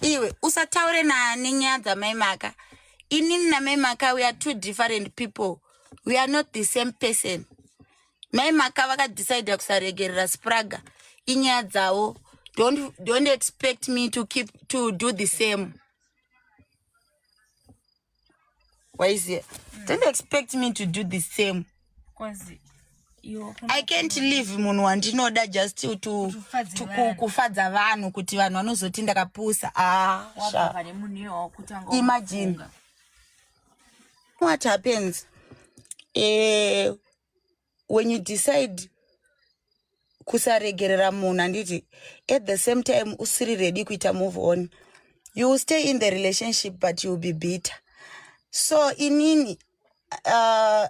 iwe usataure nani nyaya dzamai maka inini namai maka we are two different people we are not the same person mai maka vakadecide kusaregerera spraga inyaya dzavo don't, don't expect me to keep to do the same waiziva mm. don't expect me to do the same i can't leave munhu wandinoda just to, to, to kufadza vanhu kuti vanhu vanozoti ndakapusa ah, imagine what happens eh, when you decide kusaregerera munhu handiti at the same time usiri ready kuita move on you will stay in the relationship but you will be bitter so inini uh,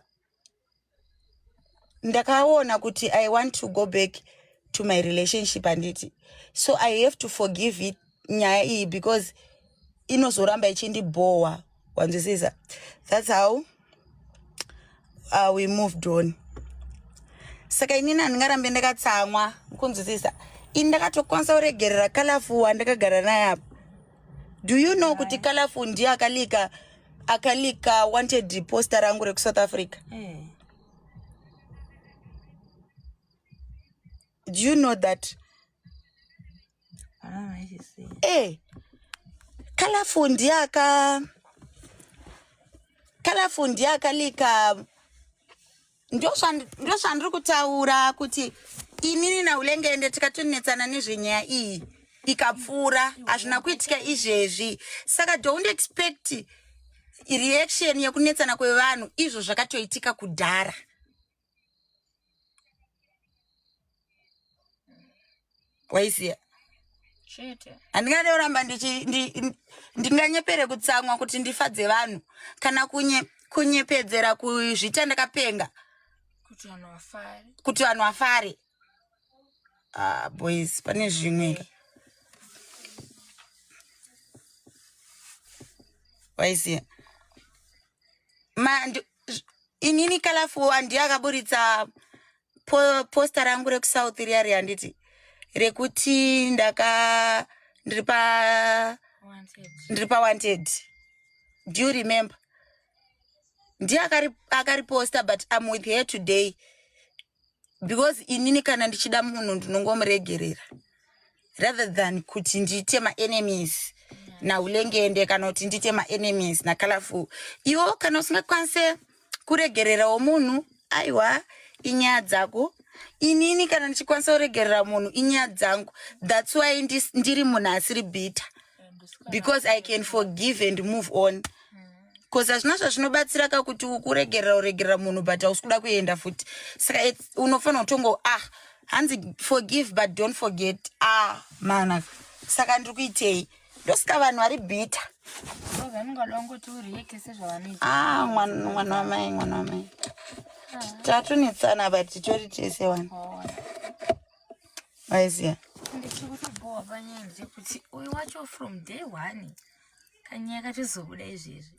ndakaona kuti i want to go back to my relationship handiti so i have to forgive it nyaya iyi because inozoramba ichindibhowa wanzwisisa thats how uh, we moved on saka inini handingarambe ndakatsamwa kunzwisisa ini ndakatokwanisa kuregerera kalafu wandakagara naye apa do you know kuti kalafu ndiye akalika akalika wanted poster rangu rekusouth africa eh. do you know that ee eh, colorful ndiye aka colorful ndiye akalika ndozvandiri kutaura kuti inini naulengende tikatonetsana nezvenyaya iyi ikapfuura hazvina kuitika izvezvi saka don't expect reaction yekunetsana kwevanhu izvo zvakatoitika kudhara waisiya chete handingade kuramba ndinganyepere kutsamwa kuti ndifadze vanhu kana kunye kunyepedzera kuzvita ndakapenga kuti vanhu vafare ah, boys pane zvimwe waisiya inini kalafu handi akaburitsa po, posta rangu rekusouth riya ri handiti rekuti ndaka ndiri pa ndiri pa wanted do you remember ndiye akariposta but im with her today because inini kana ndichida munhu ndinongomuregerera rather than kuti ndiite maenemies naulengende kana kuti ndiite maenemies nacolorful iwo kana usingakwanise kuregererawo munhu aiwa inyaya dzako inini kana ndichikwanisa kuregerera munhu inyaya dzangu thats why ndiri munhu asiri bitter because i can forgive and move on mm. bcause hazvina zvazvinobatsira ka kuti ukuregerera uregerera munhu but hausi kuda kuenda futi saka unofanira kutongo ah hanzi forgive but don't forget ah mana saka ndiri kuitei ndosika vanhu vari bhita ah, mwana wamai mwana wamai ah. tatunetsana but titori tese wani maiziva ndichiri kutobhowa panyaya ndechekuti uyu wacho from day one kanyaya katozobuda izvezvi